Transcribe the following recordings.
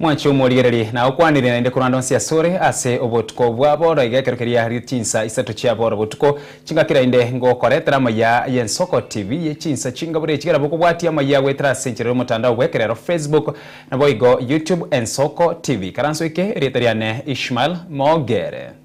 Mwanche omorigererie, na okwanire naende korwa ande onsi asore ase obotuko bwa booro iga ekero keria riria chinsa isato chia booro botuko chingakira inde ngokoretera amaya y'ensoko TV y'echinsa chingabure echi kera bokobwatia amaya agoetera ase enchera y'omotandao bw'ekerero Facebook naboigo YouTube ensoko TV karansoike erieta riane Ishmael Mogere.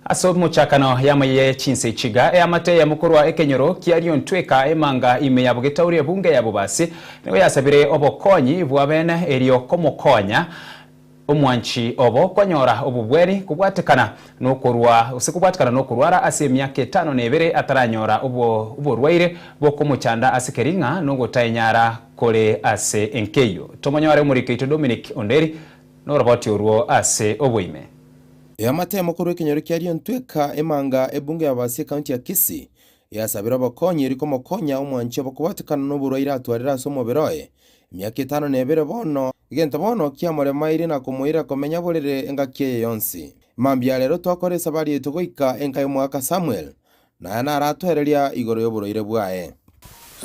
Ase omochakano y'amayia ya chinsa echiga, eamate ya mokoro wa ekenyoro kia Liontweka emanga ime ya bogetauri ebunge ya Bobasi nigo yasabire obokonyi bw'abene erio komokonya Omwanchi obo kwanyora obobweri kobwatekana nokorwa gose kobwatekana nokorwara ase emiaka etano na ebere ataranyora oborwaire bokomochanda ase kering'a nogotaenyara kore ase enkeyio. Tomonyore omoriki oito Dominic Onderi noroboti orwo ase oboime. Eamatemo korwa ekenyoro kia Lyontweka, Emanga, Ebungo ya Abasi, Ekaunti ya Kisii, Yasabire obokonyiri komokonya omwanchi obokobatekana noborwaire atwarire ase omobere oye emiaka etano na ebere bono, egento bono kiamoremairie na komoira komenya borere engaki eye yonsi. Mambia ya rero twakora esabari yaito goika enka y'omogaka Samuel, na aya naratoereria igoro y'oborwaire bwaye.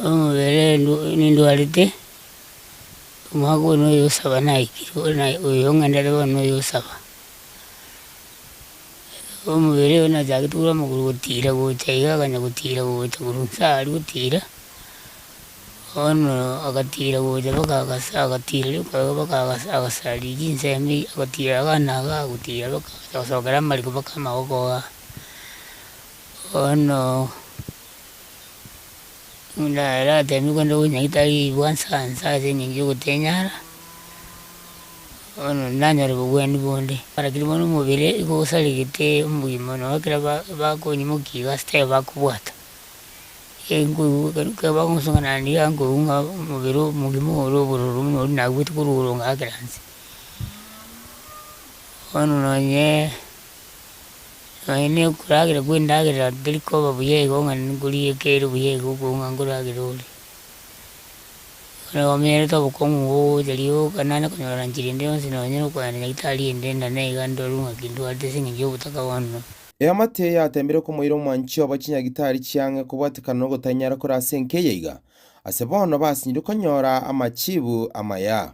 Omobere nindwarete, omwaka oyo noyosaba naikire, oyo ng'endere bono noyosaba. Ekero omobere oye nachagete korwa amagoro gotira gocha iga akaganya gotira gocha korwa inse aa aria gotira, bono agatira gocha mpaka agasa agatira rioka iga mpaka agasa agasaria chinsemi agatira iga na iga agotira mpaka agacha gosokera amariko mpaka amagoko igaa. Bono. Omonto aratemigwe korende ogochia tarigwa nsansa ase engencho ya ogotenyara, bono nanyore obogwenu bonde. Rakini bono omobere nigo osarigete omogima nabo ekero ba- bakonyimokia iga ase taiyo bakobwata. ekero bagosonga naende iga nkoigwa ng'a omobere omogima ore obororo buna oria nabuete korwa ororo ngakera inse. Bono nonyee. Aye ne okoragera kw'endagera teri koba buya igo ng'a nkoria ekere buya igo okobua ng'a nkoragera ore. Bono omanyerete obokong'u obwo ogocha riroba ogoka naende konyora ranchiri ende yonsi nonye na okogenda nyagetari ende nda naiga ndorwe ng'a ki ndwate ase eng'encho y'ogotaka bono. Eamate eye yateemire komoira omwanchi obo chinyagitari chi'ang'e kobwatekana n'ogotanyara kore ase enka eye iga. Ase bono basinyire konyora amachiibu amaya.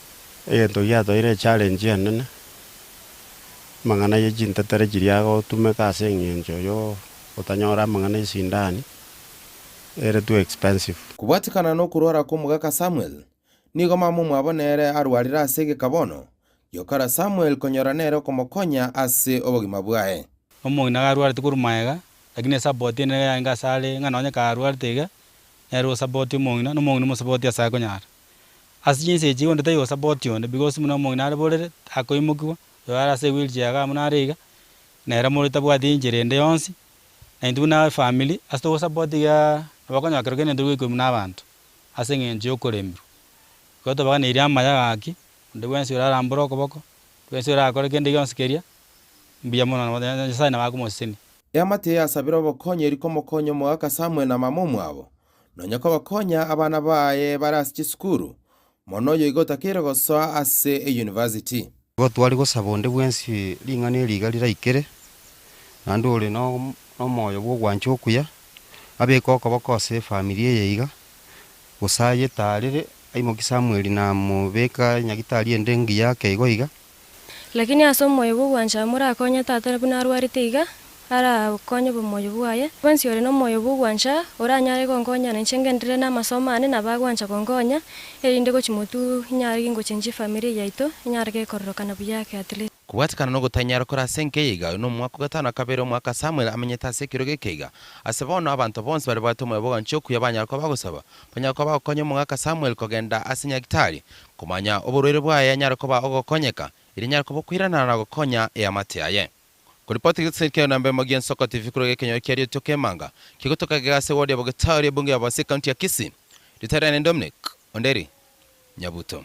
Egento giatoeire echallenge enene, amang'ana ye chintetere chiria agotumeka ase eng'encho yo otanyora amang'ana esindani ere too expensive. Kobwatikana nokorwara kw'omogaka Samuel, nigo mamomwabo nere arwarire ase egeka bono, giokora Samuel konyora nere okomokonya ase obogima bwaye. Omong'ina iga arwarete korwa magega, lakini esabbot enene iga yarenge asare ng'a nonye kaarwarete iga, nere osabbotie omong'ina, na omong'ina omosabbotie asare konyara. Ase chinsa echi igondete Yehosafati onde, because buna omong'ina areborere, takoimokigwa, oyo are ase ewheelchair iga buna are iga, nere mori tabwati enchera ende yonsi, na intwe buna efamiri, ase togosapota igaa, nabo okonyora kero kende ntogoikwegwa buna abanto, ase eng'encho ya okoremirwa. Igo tobaganeirie amaya gaki, onde bwensi ore arambore okoboko, onde bwensi ore akore kende gionsi keria, mbuya mono nabo Nyasae nabo akomosesenia. Eamate eyasabire obokony'eri komokonya omogaka Samuel na mama omwabo, nonya kobakonya abana baye bare ase chisukuru, mono oyo iga otakeire gosoa ase eyunivasiti. Igo tware gosaba onde bwensi ring'ana eri iga riraikere, naende ore nomoyo bw'ogwancha okuya, abeke okoboko ase efamiri eye iga, gose ayetaarere, aimokie Samweli na mobeka nyagitari ende engiya ake igo iga, Lakini ase omoyo bw'ogwancha morakonye tata buna arwarete iga arakonye bomoyo bwaye. Bwensi ore nomoyo bw'ogwancha oranyare gonkonya na inche ngenderere namasomo ane nabo agwancha gonkonya, erinde gochia motwe inyare gingochenchi efamiri yaito enyare gekororokana buya ake at least. Kobwatekana nogotanyara kore ase enka eye iga, oyo nomwaka ogatano akabere omwaka Samuel amenyete ase ekerogo eke iga. Ase bono abanto bonsi bare bwate omoyo bw'ogwancha okuya banyare koba bagosaba, Onye akoba okonya omogaka Samweli kogenda ase nyagitari, komanya oborwaire bwaye anyare koba ogokonyeka, erio anyare koba okoiranana na gokonya eamate yaye. Koripoti egetiseri kia Yona Mbemo Gia Nsoko TV korwa egekenyoro kia Rietwa Kemanga, kegotoka gega ase ward ya Bogetauri, ebunge ya Bosii, county ya Kisii. Rita riane ni Dominic Onderi Nyabuto.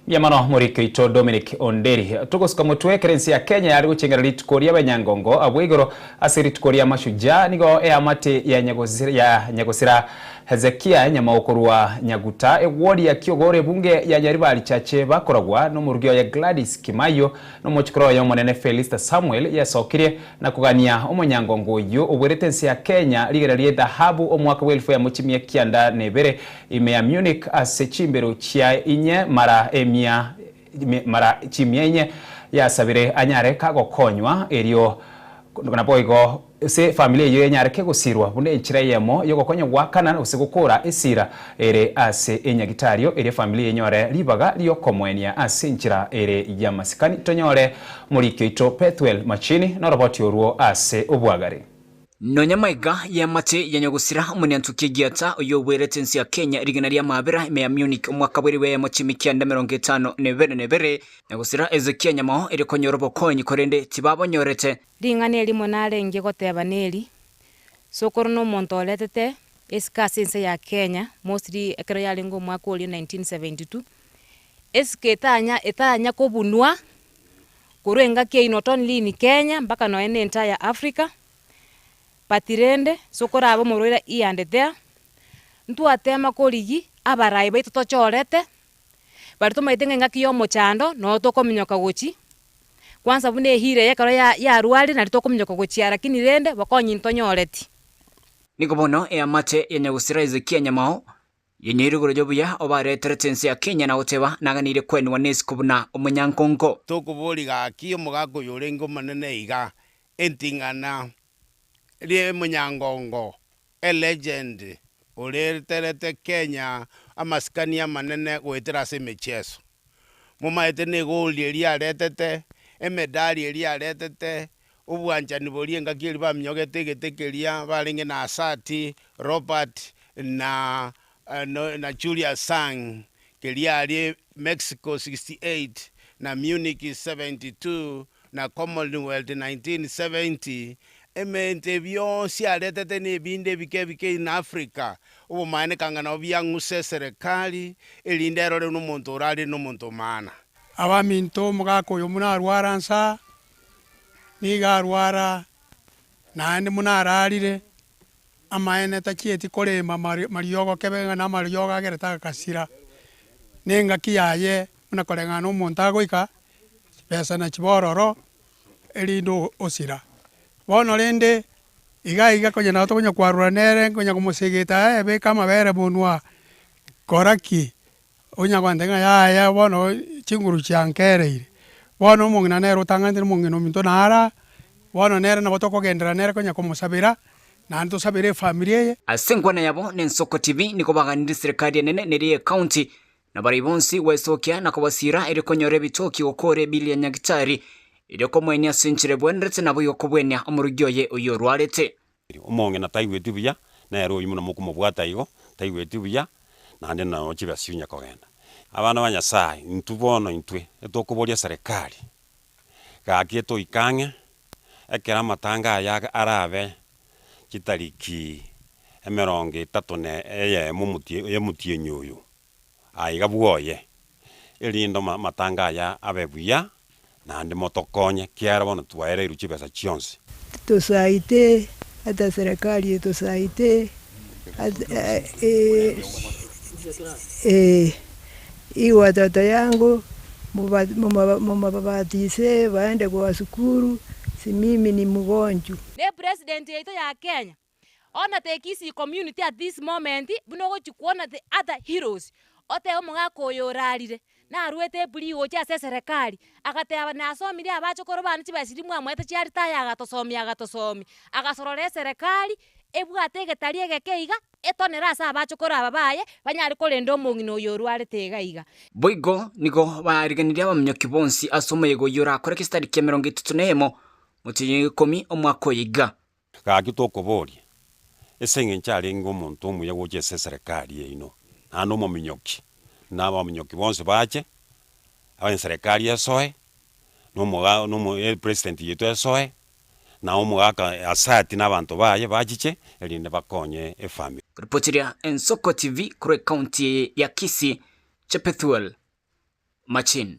Mbuya mono morik oito Dominic Onderi. Togosuka motwe ekero ense ya Kenya yare gochengera rituko ria benyangongo abwo igoro ase rituko ria Mashujaa nigo eamate ya ya Nyagosira Hezekia nyamao korwa Nyaguta ewodi ya Kiogoro ebunge ya Nyaribari chache bakoragwa nomorugi oye Gladys Kimaio nomochikoro oye omonene Felista Samuel yasokirie na kogania omonyangongo oyio obuerete ense ya Kenya rigena rie dhahabu omwaka bwa elfu yamo chimia kianda na ebere Ime ya Munich ase chimberu chia inye mara emia mara chimia inye yasabire anyare kagokonywa erio naboigo ase familia eyio enyare kegosirwa buna enchera eyemo yogokonya goakana gose gokora esira ere ase enyagitario erio familia enyore ribaga riokomoenia ase enchera ere yamasikani tonyore moriki oito Pethuel Machini noroboti orwo ase obwagare. Nonya maiga y'amache ya Nyagusira, Omoniantoki Egiata, oyio oboerete ense ya Kenya rigena ria maabera ime ya Munich omwaka bw'erio bw'eyemo chi'ime kianda emerongo etano na ebere na ebere. Nyagusira Hezekia nyamao erio konyora obokonyi korende tibabonyorete. Ring'ana erimo narenge goteba neri, Sokoro nomonto oretete esike ase ense ya Kenya, mostly ekero yarenge omwaka oria 1972. Esike etanya etanya kobunwa korwa engaki eye not only in Kenya mpaka nonya ne entire Africa, but rende sokoraba omorwaire here and there, ntwatema korigi abarai baito tochorete, baria tomaete ng'a engaki ya omochando noyo tokominyoka gochi, kwansa buna ehira eye ekero ya yarwarire nari tokominyoka gochia lakini rende bokonyi ntonyoreti. Nigo bono eamate ya Nyagusira Hezekia Nyamao Geniire igoro y'obuya obaareterete ense ya Kenya na goteba, Naganire kwenwa nesiko buna omonyankongo. Tokoboria gaki omogaka oyorenge omonene iga, eting'ana ri'omonyankongo, a legend, oreterete Kenya amasikani amanene goetera ase emechieso. Momaete negoldi eria aretete, emedali eria aretete, obwanchani boria engaki eria baminyogete egete keria barenge na Asati, Robert, na na Julius Sang, keria aria Mexico 68, na Munich 72, na Commonwealth 1970, emerto eye bionsi aretete na ebinto ebike ebike in Africa, obomanene kanga nabo biang'use eserekari, erinde erorewe nomonto ore arire nomonto omana. Abaminto, omogaka oyomo narware ansa, nigo arwara naende buna ararire, amaene tachieti korema mariogo kebe ng'a namariogo agerete agasira, na engaki yaye buna koreng'ana na omonto agoika, chibesa nachiba ororo erinde osira. Bono rende iga iga konya nabo tokonya kwarorana nere, nkonya komosegeta, aye beka amabere monwa, kora ki, Onya kwantake ng'a yaya bono chinguru chiankereire. Bono omong'ina nere otang'anete nomong'ina ominto nara, bono nere nabo tokogenderera nere konya komosabera, naende tosabere efamiri eye. Ase enkwana yabo na Ensoko TV nigo baganire Serikali enene neria ye County na baria bonsi gwesokia na kobasira erio konyora ebitoki gokore Billy Nyagitari erio komoenia ase enchera ebwenerete nabo yokobwenia omorogi oye oyorwarete. Omong'ina taigweti buya, nere oyio buna mokomobwata igo, taigweti buya, naende nonya chibesa onya kogenda. Abana ba Nyasaye, intwe bono intwe, etokoboria eserekari, gaki etoike ang'e, ekero amatanga aya arabe chitariki emerongo etato ne eyemo omotienyi oyo. aiga bwoye, erinde amatanga aya abe buya, naende motokonye, kiagera bono twaereirwe chibesa chionsi. Tosaite ata eserekari etosaite watoto yangu mobabatise baende goa sukuru simimi ni mgonju. Ne president yaito ya Kenya. Ona the Kisii community at this moment buna ogochi kwona the other heroes, otebe omogaka oyo orarire narwete epulii gocha ase eserekari agateba nasomiri abachokoro bane chibesiri mwamoete chia retire agatosomia agatosomia, agasorora eserekari ebwate egetari egeke iga etonere ase abachokoro aba baye banyare korenda omong'ina oyo orwarete iga iga. Boigo nigo bariganirie abaminyoki bonsi ase omoyega oyio orakore gestadi kia emerongo etato na eyemo, motienyi oyo ikomi, omwaka oyo iga. Gaki tokoboria, ase engencho arenge omonto omuya gocha ase eserekari yaino, naende omominyoki, na abaminyoki bonsi bache, enserekari esoe, na omoga na omo epresident yaito esoe, na omogaka asati na abanto baye bachiche erinde bakonye efamiri. Ripoti ria Ensoko TV korwa ecounty eye ya Kisii, Chepethuel Machin.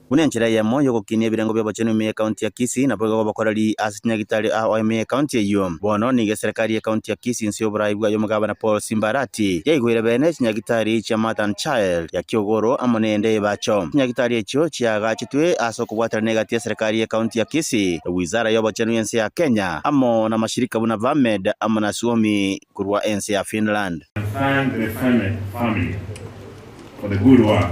Buna enchera eyemo y'ogokinia ebirengo bi'obochenu ime y'Ekaunti ya Kisii, naboigo gobokoreri ase chinyagitari ao ime y'Ekaunti eyio. Bono nigo eserekari y'Ekaunti ya Kisii inse y'oboraai bwa y'Omogabana Paul Simba Arati, yaigoire bene chinyagitari chia Mother and Child ya Kiogoro amo neende ebacho. Chinyagitari echio chiaagachetwe ase okobwatana n'egati y'eserekari y'Ekaunti ya Kisii, Wizara y'Obochenu y'ense ya Kenya, amo namashirika buna VAMED amo na Suomi korwa ense ya Finland. I thank the Femet family for the good work.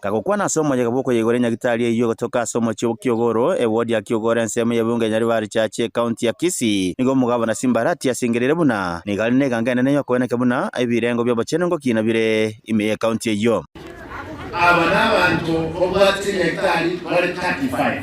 Gakokwana ase omoyega bw'okoyegora enyagitari eyio gotoka ase omochie o Kiogoro, ewodi ya Kiogoro ensemo y'ebiunga ya Nyaribari Church, ekaunti ya Kisii. Nigo omogabana Simbarati asengereire buna nigo are n'eganga enene y'okoeneka buna ebirengo bi'obochenu ngokina bire ime y'ekaunti eyio. Aba nabanto babwate enyagitari bare 35.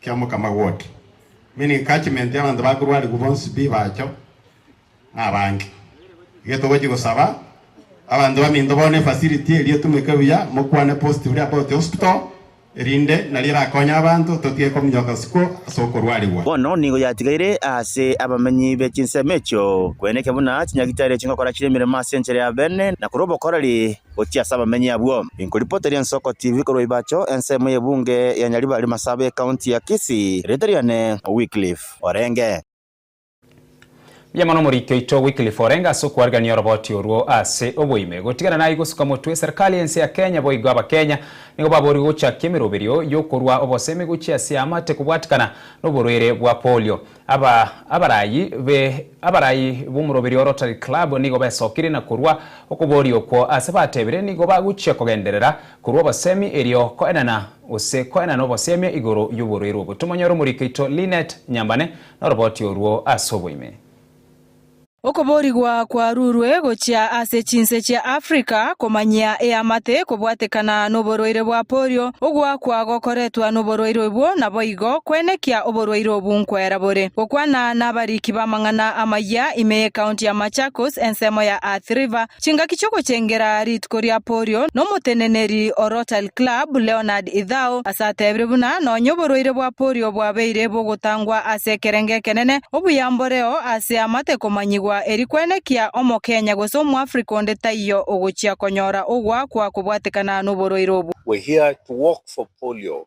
kia mokama gwoka, meaning catchment y'abanto bakorwa arigwe bonsi pi bacho na abange. Getogochia gosaba abanto baminto bono efacility eria etumeke buya, mokwane positively about the hospital erinde nario erakonye abanto totige kominyoka isiko ase okorwa arigwa. Bono nigo yatigaire ase abamenyi be chinsemo echio, kweneke buna chinyagitari chingokora chire emeremo ase enchera ya bene, na korwa obokoreri gochia ase abamenyi abwo. Inkoripoteri Ensoko TV korwa Ibacho, ensemo y'ebunge ya Nyaribari Masaaba y'ekaunti ya Kisii. Erieta riane Wycliffe Orenge. Mbuya mono omoriki oito Wycliffe Orenge ase okwarigania oroboti orwo ase oboime. Gotigana naye gosuka motwe serikali y'ense ya Kenya boigo Abakenya nigo baboorigwe gochakia emeroberio y'okorua obosemi gochia ase amate kobwatikana noborwaire bwa polio. Aba abaraai be abaraai b'omoroberi o Rotary Club nigo besokire na korwa okobooria okwo ase batebire nigo bagochia kogenderera korwa obosemi erio koenana gose koenana obosiamia igoro y'oborwaire obo. Tomonyore omorikaito Lynette Nyambane noroboti orwo ase oboime. Okoboorigwa kwarurwe gochia ase chinse chia Africa komanyia eamate kobwatekana noborwaire bwa polio. Ogoakwa gokoretwa noborwaire obwo naboigo kwenekia oborwaire obu nkwera bore. Gokwana nabariki b'amang'ana amayia ime y'ecounty ya Machakos ensemo ya Athi River, Chingaki chi'ogochengera rituko ria Polio, nomoteneneri o Rotary Club, Leonard Ithao, asatebire buna nonya oborwaire bwa Polio bwabeire bogotangwa ase ekerengo ekenene, obuya mboreo ase amate komanyigwa eri kwenekia Omokenya gose Omoafrika onde taiyo ogochia konyora ogoakwa kobwatekana noborwaire obwo. We're here to walk for polio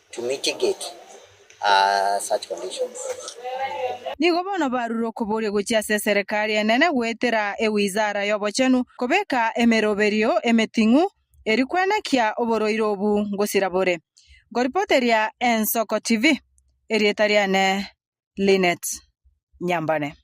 to mitigate such conditions. Nigo bono barure okoboria gochia ase eserekari enene goetera ewizara y'obochenu kobeka emeroberio emeting'u eri kwenekia oborwaire obu ngosira bore. Nkoripoteria Ensoko TV, erieta riane Lynette Nyambane.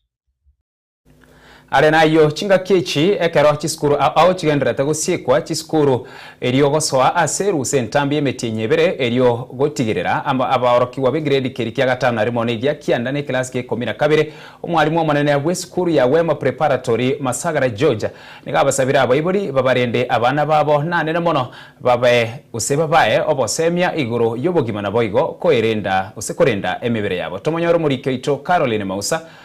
Are nayio, chingaki echi, ekero chisukuru ao chigendererete gosiekwa chisukuru, erio gosoa ase erusa entambe y'emetienyi ebere, erio gotigerera abaorokigwa b'egiredi keria kia gatano na rimo negia kianda n'ekelasi g'ekomi na kabere, omwarimu omonene bw'esukuru ya Wema Preparatory, Masagara George, nigo abasabire abaibori babarende abana babo nanene mono babe gose babae obosemia igoro y'obogima naboigo koerenda gose korenda emebere yabo. Tomonyore omoriki oito Caroline Mausa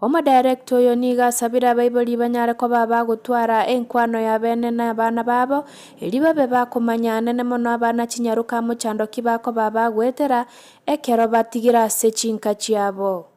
Omodirector oyo nigo asabire abaibori banyare koba abagotwara enkwano y'abene na abana babo, erio babe bakomanya anene mono abana chinyaroka amo chandoki bakoba abagoetera ekero batigire ase chinka chiabo.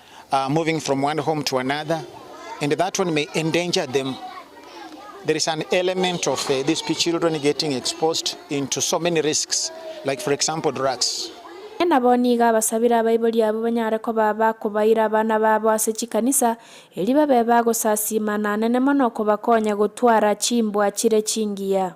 are moving from one home to another and that one may endanger them. There is an element of uh, these children getting exposed into so many risks, like for example drugs. Inee nabo nigo abasabire abaibori abwo banyare koba abakobaira abana babo ase chikanisa, erio babe bagosasiima, nanene mono kobakonya gotwara chimbwa chire chingiya?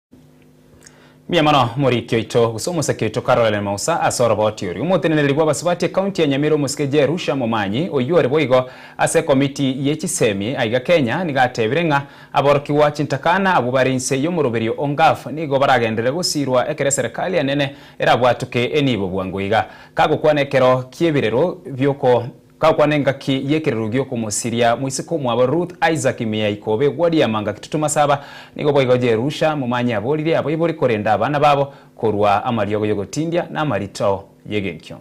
Mbuya mono omoriki oito gose omosake oito karorere mausa ase oroboti oria. Omoteneneri bw'abasubati ekaunti ya Nyamira omosike Jerusha Momanyi oyio ore boigo ase ekomiti ye chisemi aiga Kenya nigo atebire ng'a aborokigwa chintakana abwo bare inse y'omoroberio o Ngaf nigo baragenderere gosirwa ekero eserekari enene erabwatuke enibo bwango iga kagokwana ekero ki'ebirero bi'oko Gakwana engaki y'ekerero gi'okomosiria moiseke omwabo Ruth Isaac Mia ikobe egwa riama ngaki totoma saba, nigo boigo Jerusha momanye aborire abaibori korenda abana babo korwa amariogo y'ogotindia na amarito y'egenkio.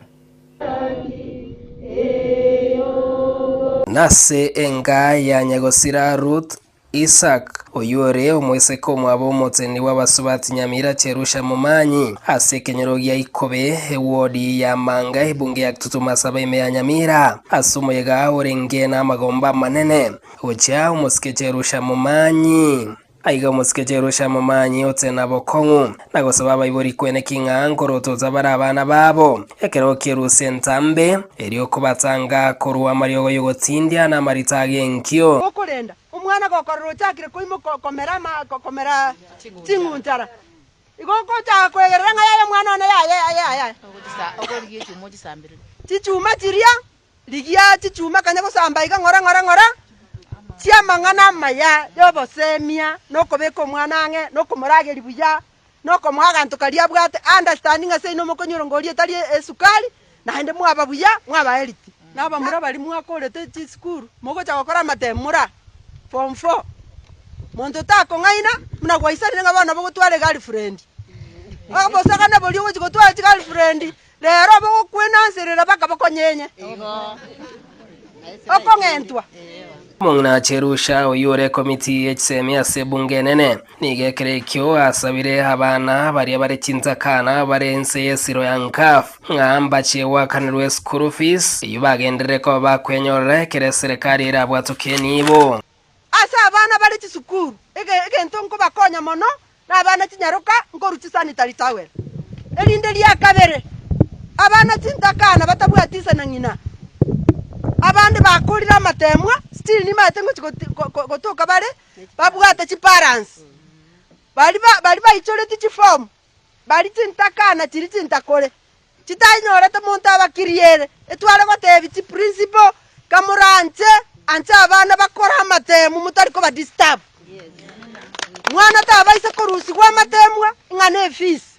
Nase engaa ya nyagosira Ruth, Isak, oyore omoiseke omwabo omoteni bw'abasubati nyamira Cherusha Momanyi, ase ekenyoro gia Ikobe, ewodi ya Manga, ebunge ya Ktutumasaba ime ya Nyamira, ase omoyega orenge namagomba amanene, gochia omosike Cherusha Momanyi. Aiga omosike Cherusha Momanyi otenabokong'u. na gosaba abaibori kweneki ng'a nkorotota bare abana babo, ekero okierusia entambe, erio okobatanga korwa amariogo y'ogotindia na amarita ag'enkio. Okorenda omwana gokorora ochakire koimoka komera ama komera ching'untara, igo ogochaka kwegerera ng'a yaye omwana one yaye yaye chichuma chiria. Rigia chichuma kanya gosamba iga ng'ora, ng'ora, ng'ora, chi'amang'ana amaya y'oboseemia, na okobeka omwana ang'e, na okomorageria buya, na okomoa aganto karia abwate, understanding ase inwe mokonywa erongoria etari esukari, naende mwaba buya, mwaba healthy. Na abamura baria mwakorete chisukuru, mogocha gokora amatemu mora form four, monto takong'aina, buna gwaisanire ng'a bono nabo ogotwara egirlfriend. Obosakane boria ogochi gotwara chigirlfriend, Reero abagokwenanserera baka bakonyenye okong'entwa. Omong'ina Cherusha, oyio ore komiti ye chisemi ase ebunge enene, nigo ekero ekio asabire abana baria bare chintakana bare inse ye siro ya NCAF ng'a mbache goakanirwa eschool fees eyio bagenderere koba bakwenyorera ekero eserekari erabwatokie enibo. Ase abana bare chisukuru, egento nkobakonya mono Nabana chinyaroka nkorwa chisanitari towel. Erinde ria kabere, abana chintakana batabwati ise na ng'ina. Abande bakorire amateemwa, still nibaete ngochia gotoka bare babwate chiparansi. Baria baichoretie chifomu, baria chintakana chiria chintakore. Chitanyorete monto abakirie ere, etware goteebia chiprincipo ng'a moranche anche abana bakore amatemu motari kobadisturb. Mwana tabaisa korusigwa amatemwa ng'a ne efisi.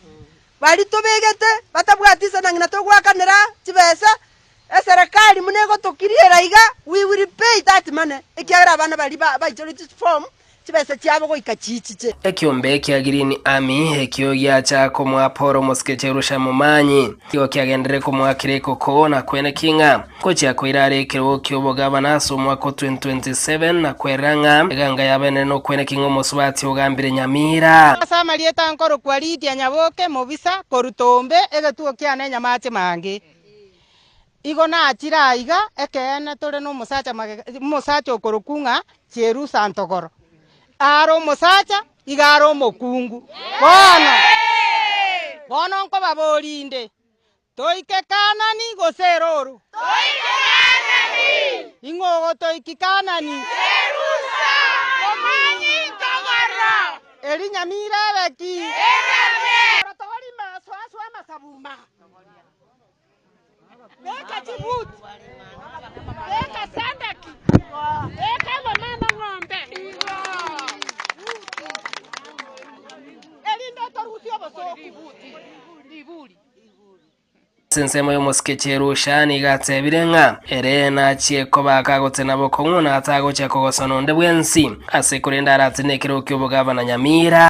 Baria tobegete batabwati isana ng'ina togoakanera chibesa Eserekari buna egotokiriera iga, we will pay that money, ekiagera abana baria baichoretie chifomu chibesa chiabo goika chiichiche. Ekiombe ekia Green Army ekio giacha komoa Paul omosike Cherusha momanyi, nigo kiagenderere komoakera ekoko na kwene king'a, gochia koira are ekerogo ki'obogavana ase omwaka o 2027, na kwerera ng'a eganga y'abenene nokwene king'a omosubati ogambire Nyamira. Ase amarieta nkorokwa Lydia Nyaboke, mobisa korwa Tombe, egetugo kiane Nyamache Mange. Igo nachire aiga, ekeene tore nomosacha magega, omosacha okorokwa ng'a Jerusa Antogoro. Are omosacha, iga are omokungu. Bono, bono nkobaboria inde, Toike Kaanani gose erooro? Toike Kaanani. Ing'o ogotoiki Kaanani? Jerusa, omwami Ntogoro. Erinyamira ebe ki? Erame. Togori maso aswe amasabuma. Beka chibuti, beka sandaki, beka engoma amang'ombe, erinde otorusie obosoku. Ase ensemo y'omosikechi Elusha nigo atebire ng'a ere nachie kobaka agotse na bokong'u na atagochia kogosana onde bwensi, ase korende aratine ekerogo ki'obogavana Nyamira.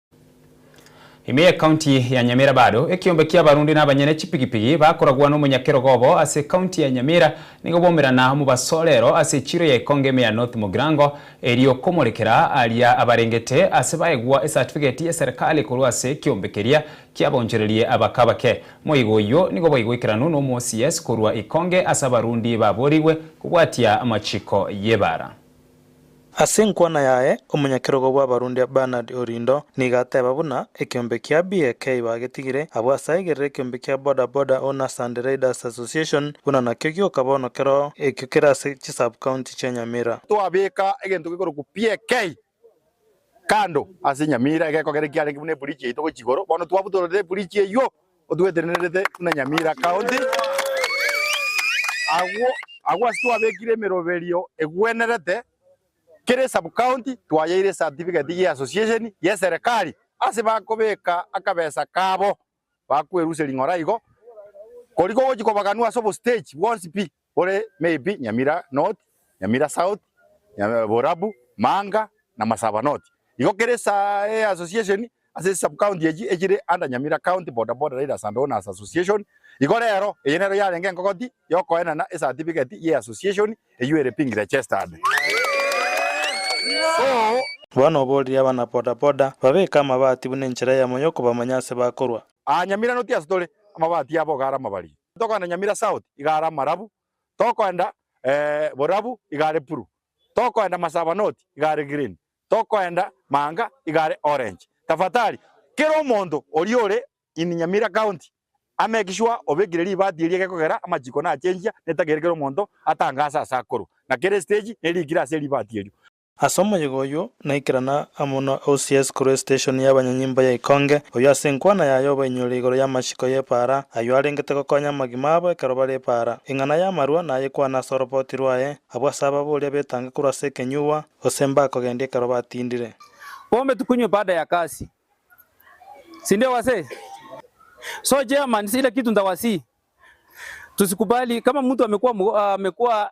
Ime y'Ekaunti ya Nyamira bado ekiombe ki'abarundi na abanyene chipigipigi bakoragwa n'omonyakerogo obo ase Ekaunti ya Nyamira nigo boumerana omobasorero ase echiiro ya ekonge ime ya North Mugirango erio komorekera aria abarengete ase baegwa esatifigeti y'eserekari korwa ase ekiombe keria kiabaonchorerie abaka abake. Moigo oyio nigo bwaigoikeranu n'omocs korwa ekonge ase abarundi baborigwe kobwatia amachiko y'ebara. Ase enkwana yaye, omonyakerogo bw'abarundi Bernard Orindo nigo ateba buna ekeombe kia BAK bagetigire, abwo ase aigerere ekeombe kia Boda Boda Owners and Riders Association buna nakio gioka bono kero ekio kere ase chisub-county chia Nyamira. Twabeka egento gekorokwa BAK kando ase Nyamira, egekogera ekiarenge buna ebridge yaito gochia igoro, bono twabutorete ebridge eyio Otwetenerete buna Nyamira County. Agwo agwo ase twabekire emeroberio egwenerete, kera esub county twayeire ecertificate ye association yeserekari ase bakobeka akabesa kabo bakwerusia ring'ora igo, kori kogochi kobaganwa ase obostage bwonsi pi. Kore maybe Nyamira North, Nyamira South, Borabu, Manga na Masaba North. Igo kera ase association ase sub county echi echire under Nyamira County Boda Boda Riders and Owners Association. Igo rero eye nero yarenge engogoti yokoenana ecertificate ye association eyio ere ping registered. So. Bono oborire abana Boda Boda babeke amabati buna enchera yamo yokobamanya ase bakorwa. Aa Nyamira North ase tore amabati abo ogare amabarie. Tokoenda Nyamira South igare amarabu, tokoenda borabu igare puru, tokoenda Masaba North igare green, tokoenda Maanga igare orange. Tafadhali kera omonto oria ore in Nyamira County amake sure obekire ribati eria gekogera amachiko nachenjia netageire kera omonto atangaase ase akorwa ng'a kera estage neriikire ase ribati erio. Ase omoyega oyio naikerana amo na OCS korwa esiteshoni y'abanyanyimbo ya Ikonge, oyio ase enkwana yaye obainyorire igoro y'amachiko y'epaara ayio arengete gokonya amagima abo ekero bare epaara. Eng'ana y'amarwa nayekwane ase oroboti rwaye, abwo ase ababoria betange korwa ase ekenyugwa, gose mbakogendia ekero batindire. Pombe tukunywe baada ya kazi sindio wasee? So chairman ile kitu ntawasii tusikubali kama mtu amekuwa amekuwa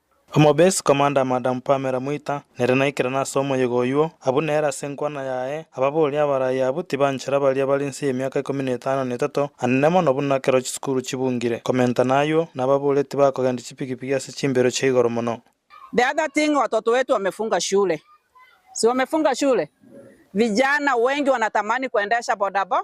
Omobesi komanda Madam Pamela Mwita nere naikire nase omoyega oyuo, abwo nere ase enkwana yaye, ababoria abarai abwo tibanchera baria bare nse y'emiaka ikomi na etano na etato, anene mono buna ekero chisukuru chibungire. Komentana ayuo, nababoria tibakogendia chipigipigi ase chimbero chia igoro mono. The other thing watoto wetu wamefunga shule si wamefunga shule vijana wengi wanatamani kuendesha bodaboda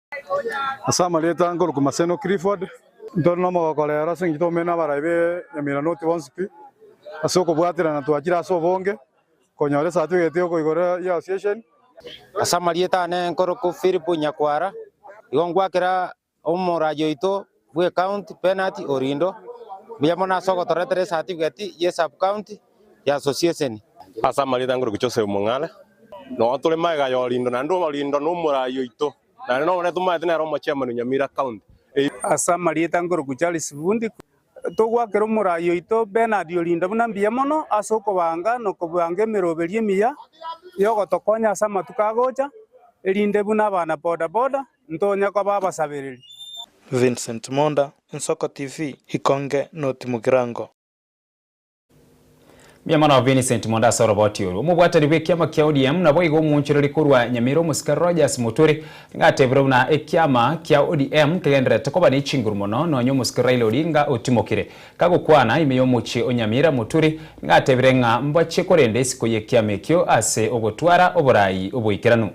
Ase amarieta a Nkoruki Maseno Clifford, ntore nomogoko rero ase engencho toumene abarai be Nyamiranoti bonsi pi ase okobwaterana twachire ase obonge konyora esatifigeti yoko igoro ya Association. Ase amarieta ane Nkoruki Philip Nyakwara, igo ngwakera omoraji oito bwe county penati orindo mbuya mono ase ogotoretera esatifigeti ye sub-county ya asosieseni. Ase amarita ngorokwe Joseph Mong'are, nonya tore magega ya orindo naende orindo nomorai oito naende nonya nere tomaete nere omochairman o Nyamira county eye. Ase amarita ngorokwe Charles Fundi, togoakera omorai oito Bernard Orindo buna mbuya mono ase okobanga nokobanga emeroberio emiya yogotokonya ase amatuko agocha, erinde buna abana boda boda, ntonye koba abasabereri. Vincent Monda, Nsoko TV, Ikonge noti Mugirango. Mbuya mono Vincent Monda ase oroboti oru. Omobwatani bw'ekiama kia ODM naboigo omoonchoreri korwa Nyamira omosike Rogers Muturi nigo ateebire buna ekiama kia ODM kegendererete koba ne chinguru mono nonya omosike Raila Odinga otimokire kagokwana ime y'omochie o Nyamira Muturi nigo ateebire ng'a mbachie korenda isiko y'ekiama ekio ase ogotwara oboraai obwaikeranu.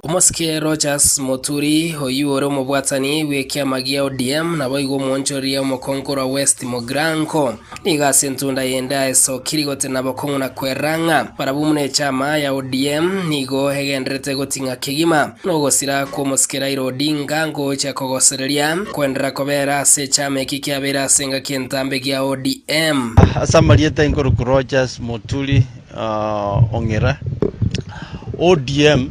Omosike Rogers Muturi, oyio ore omobwatani bw'ekiama gia ODM, naboigo omwonchoreria omokongo orwa West Mogrango, nigo ase entunda yende aesokirie gotena bokong'u na kwerora ng'a barabwo buna echama ya ODM nigo egendererete goting'a kegima nogosira kw'omosike Raila Odinga ngocha kogosereria kwenderera kobera ase echama eki kiabeire ase engaki entambe gia ODM. Ase amarieta inkorokwa Rogers Muturi. Ong'ira. ODM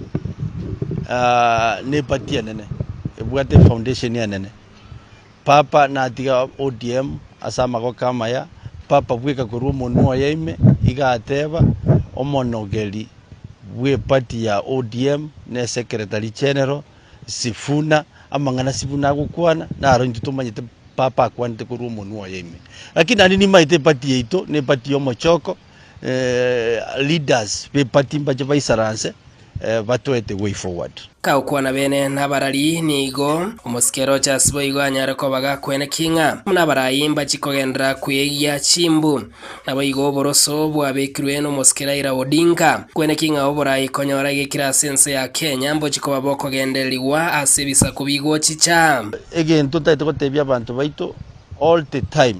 ne party enene ebwate foundation enene. Papa natiga ODM ase amagoka amaya, papa bweka korwa omonwa oye ime iga ateba omonogeri bwe party ya ODM ne secretary general Sifuna amang'ana Sifuna agokwana naro intwe tomanyete papa akwanete korwa omonwa oye ime. Lakini naende nimaete party yaito ne party yomochoko. leaders be party mbache baisaranse batoete way forward. Ka okwana bene nabarari nigo omosike eroche ase boigo anyare kobaga kwene ki ng'a buna abarai mbachi kogendera kweegia chimbu. Naboigo oboroso bwabekirwe nomosike Raila Odinga kwene ki ng'a oborai konyora egekira ase ense ya Kenya mbochi koba bokogendererigwa ase ebisaku bigochicha. Egento totaete gotebia abanto baito all the time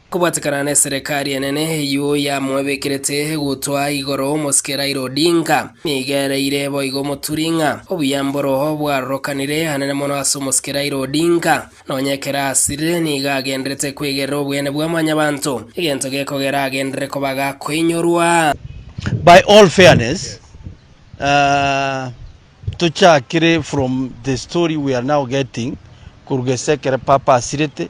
Kobwatekana neserekari enene eyio yamoebekerete gutwa igoro omosike Raila Odinga, nigo ereire boigo omoturi ng'a obuya mboroho bwarorokanire hanene mono ase omosike Raila Odinga, nonye ekero asirire nigo agenderete kwegerera obweene bwa mwanyabanto, egento gekogera agenderere koba gakoinyorwa. By all fairness, tochakire from the story we are now getting koruga ase ekero Papa asirete,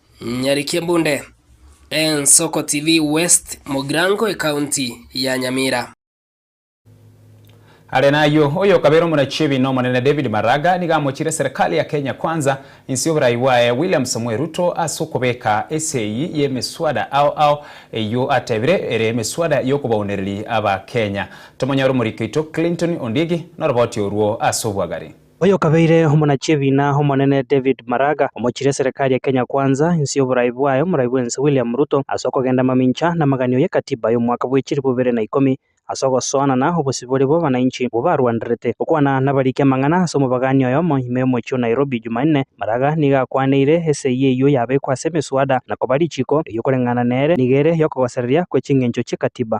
Nyarikia mbunde, Ensoko TV West Mogrango Ekaunti ya Nyamira. Are nayio, oyo okabera omonachi ebiina Omonene David Maraga nigo amochiire Serikali ya Kenya Kwanza inse y'oborai bwaye William Samoei Ruto ase okobeka ase eyio y'emeswada ao ao eyio atebire ere emeswada y'okobaunereria Abakenya. Tomonyore omoriki oito Clinton Ondiegi noroboti orwo ase obwagari. Oyokabeire omonachiebiina omonene David Maraga, omochirie eserekari ya Kenya Kwanza, inse y'oborai bwaye, omorai bw'ense William Ruto, ase okogenda amamincha na amaganio y'ekatiba y'omwaka bw'echiri bobere na ikomi, ase ogosoanana obosibore bw'abanainchi bobarwanderete. Gokwana nabariki amang'ana ase omobagaani oyomo ime y'omochie o Nairobi Jumanne, Maraga nigo akwaneire esegi eyio yabekwa ase emeswada na koba richiiko eriokoreng'ana nere nigo ere y'okogosereria kwe ching'encho chi'ekatiba.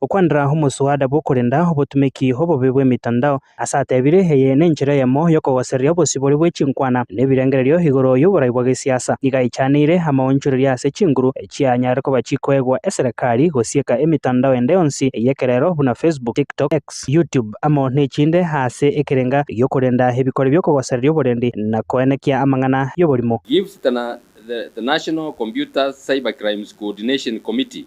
okwanera omoswada bw'okorenda obotumeki obobe bw'emitandao, ase atebire eye nenchera eyemo y'okogosereria obosibore bwe chinkwana na ebirengererio igoro y'oborai bwa gesiasa. Nigo aichanire amaonchoreria ase chinguru echianyare koba chikoegwa eserekari gosieka emitandao ende yonsi ey'ekerero buna Facebook, TikTok, X, YouTube amo nechinde ase ekerenga gi'okorenda ebikore bi'okogosereria oborendi na koenekia amang'ana y'oborimo. Gift na The National Computers Cybercrimes Coordination Committee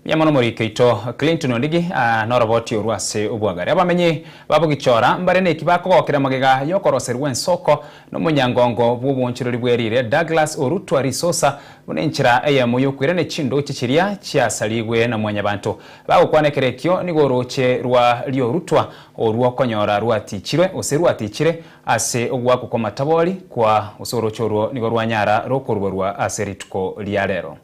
Mbuya mono omoriki oito Clinton Ondigi aa noroboti orwo ase obwagare. Abamenyi ba Bogichora mbare neki bakogokire magega y'okoroserwa ensoko nomonyangongo bw'obwoonchorori bwe riire Douglas Orutwa Risosa buna enchera eyemo y'okoirania chindooche chiria chiasarigwe na mwanyabanto. Bagokwana ekerekio nigo orooche rwa ri'orutwa orwo konyora rwatiichirwe ose rwatiichire ase ogoakwa kw'amatabori kwa ose orooche orwo nigo rwanyara rokoruborwa ase rituko ria rero.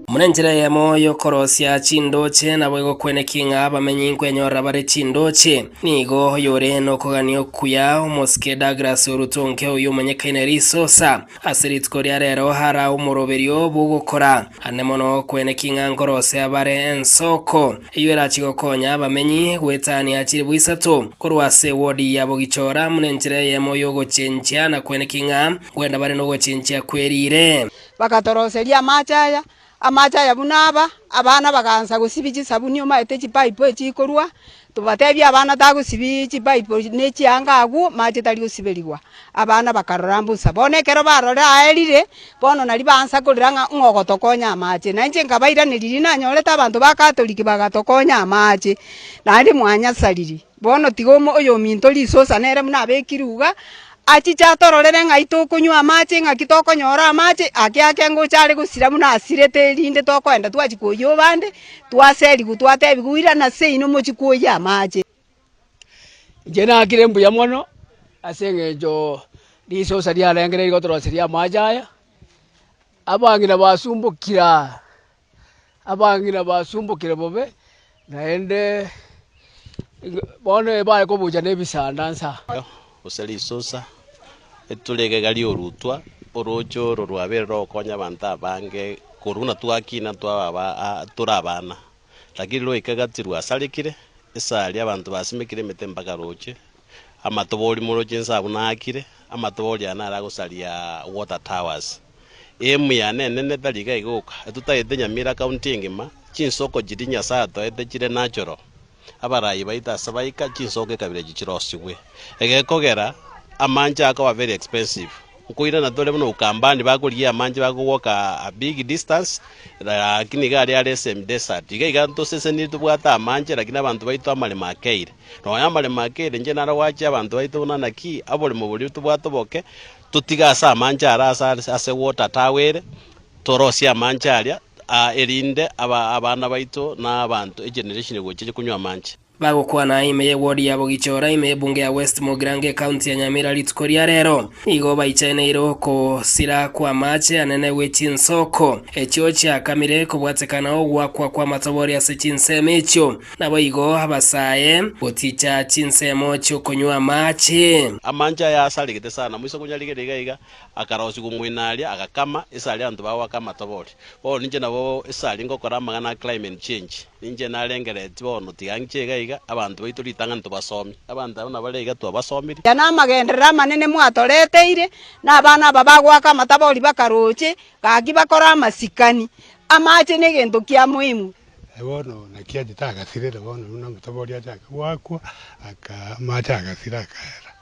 Buna enchera eyemo y'okorosia chindooche nabo egokwenekia ng'a abamenyi nkwenyorera bare chindooche, nigo oyore nokogania okuya omosike Douglas Orutonke oyio omonyekaine ere Isosa, ase rituko ria rero ara omoroberio bw'ogokora ande mono okwenekia ng'a nkorosia bare ensoko eyio erache gokonya abamenyi goetania chilifu isato korwa ase eward ya Bogichora buna enchera eyemo y'ogochinchia na kwenekia ng'a kwenda bare nogochinchia kwe riire. Bagatoroseria amache aya, amache aya buna aba, abana bagaansa gosibia chisabuni omanyete chipaipo echi chikorwa, tobatebia abana tagosibia chipaipo na echianga agwo, amache tari gosiberigwa, abana bakarora mbosa, bono ekero barore aerire, bono nari baansa korira ng'a ng'o ogotokonya amache, na inche nkabairaneria riria nanyorete abanto ba catholic bagatokonya amache, naende mwanyasariri. Bono tiga omo oyominto risosa nere buna abeki ruga, achiche atororere ng'ai tokonywa amache, ng'aki tokonyora amache, ake ake ngocha are gosira buna asirete erinde tokoenda twachia koyia obande, twaserigwa twatebiwa irana seino mochie koyia amache. Inche nakire mbuya mono ase eng'encho risosa riarenge rigotoroseria amache aya, abang'ina basumbokire aa. Abang'ina basumbokire bobe, naende bono ebare kobucha nebisanda nsa. Gose risusa, eturi egega ri'orutwa, orooche oro rwabeire rogokonya abanto abange korwa buna twakina twababa tore abana. Lakini rwaika gati rwasarekire, ase aria abanto basimekire emete mpaka rooche, amatobori moro chinsa buna aakire, amatobori aya naro agosaria Water Towers. Eemu y'Eanene netari iga egoka, etutagete Nyamira County engima, chinsoko chiria Nyasae atoete chire natural, abarayi baito ase baika chinsoko ekabira echio chirosigwe. Egekogera amanche akoba very expensive, nkoirana tore buna Ukambani bakorigia amanche bakogwoka a big distance lakini iga aria are semi desert. Iga iga ntoseseniri tobwate amanche lakini abanto baito amaremo akeire. Nonya amaremo akeire inche naro gwachia abanto baito buna naki aboremo boria tobwate oboke, totige ase amancha ara ase are ase water tower ere, torosie amancha aria, ah, erinde aba abana baito na abanto egeneration egochia konywa amanche. Bagokwana ime ye ward ya Bogichora ime ye bunge ya West Mogirango ecounty ya Nyamira rituko ria rero. Nigo baichaneire okosira kw'amaache anene gwe chinsoko echio chiakamire kobwatekana ogwakwa kw'amatobori ase chinsemo echio. Naboigo abasae goticha chinsemo chi'okonywa amache. Amancha aya asaregete sana, moisa konyarigeria iga iga, akarosia gong'wena aria, agakama, ase aria abanto bago bakama tobori. Bono ninche nabo ase aria ngokora amang'ana a climate change. Ninche narengereretie bono tiga ng'iche iga iga, abanto baito ritang'ani tobasomi. Abanto abwo nabare iga twabasomire. Aya namagenderero amanene mwatoreteire, na abana aba bagoaka amatabori bakaroche, gaki bakore amasikani. Amache negento kia moimu. Aye bono naki achete agasirera bono buna omotoba oria achake goakwa, aka amache agasira akaera.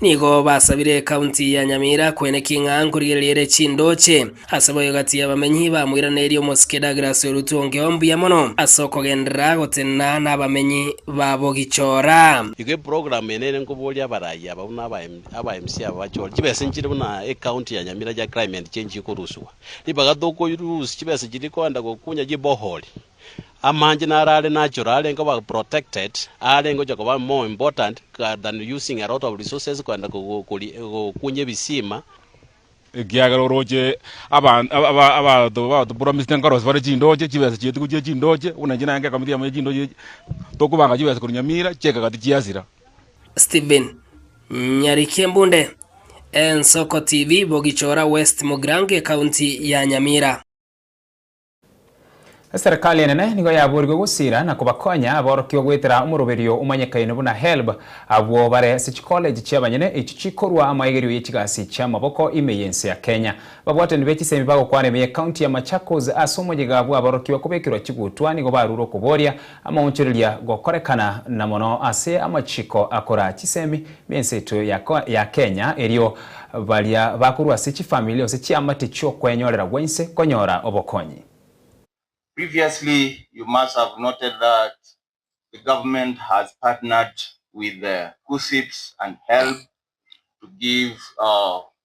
Nigo basabire County ya Nyamira kwene ki ng'a nkorigereriere chindooche ase boyo gati y'abamenyi bamoiranerie omosike Douglas Orutu onge o mbuya mono ase okogenderera gotenena n'abamenyi ba Bogichora. Igo eprogramu eye nere nkoboria abaraiya aba buna aba MC aba bachore chibesa nchire buna ecounty ya Nyamira chia climate change ekoruswa. Ribaga tokorusia chibesa chiria koenda gokunya chibohori. Amanche naro are natural, arenge koba protected, arenge gocha koba more important than using a lot of resources koenda gokunya ebisima. Ekiagera oroche abanto bagotopromisete nkorose bare chindoche, chibesa chietuko chie chindoche, buna inche nagekamitie yamo ye chindoche echi, tokobanga chibesa korwa Nyamira chiekagati chiasira. Stephen Nyarikimbunde, Ensoko TV, Bogichora West Mogrange, County ya Nyamira. Eserekari enene nigo yaborigwe gosira na kobakonya aborokigwa goetera omoroberio omanyekaine buna HELB abwo bare ase chikoleji chi'abanyene echio chikorua amaegerio ye chigasi chi'amaboko ime y'ense ya Kenya. Ababwatani be chisemi bagokwana ime ye county ya Machakos ase omoyega bw'aborokigwa kobekerwa chigutwa nigo barure okoboria Amaonchoreria gokorekana na mono ase amachiko akora chisemi b'ense yaito ya ya Kenya, erio baria bakorwa ase chifamili gose chiamate chi'okwenyorera gwense konyora obokonyi. Previously you must have noted that the government has partnered with KUSSIPS and HELB to give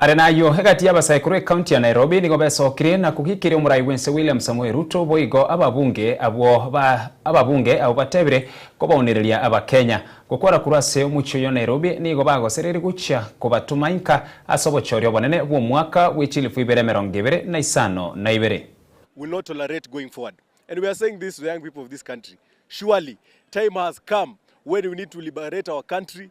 Are nayio, egati y'abasaikuru ekaunti ya Nairobi nigo besokire na kogikeria omorai bw'ense William Samoei Ruto boigo ababunge abwo ba ababunge abwo batebire kobaonereria abakenya. Gokora korwa ase omochie oyo Nairobi nigo bagosereiri gochia kobatoma inka ase obochoria obonene bw'omwaka bwe chilifu ibere emerongo ebere na isano na ibere. will not tolerate going forward and we are saying this to the young people of this country surely time has come when we need to liberate our country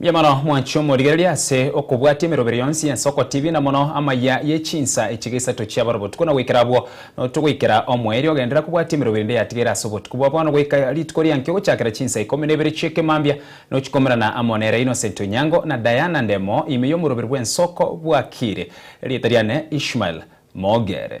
Mbuya mono mwanche omorigereria ase okobwatia emerobera yonsi y'ense okotibi na mono amaya ye chinsa echiga isato chi'abare obotuko na goikera abwo. Noto goikera omoerio ogenderera kobwatia emerobera ende yatigeire ase obotuko bwa bono goika rituko ri'enki ogochakera chinsa ikomi na ibere chi'eke mambia nochikomerana amo nere Innocent Onyango na Diana Ndemo ime y'omoroberi bw'ense oko bwakire. Erieta riane Ishmael Mogere.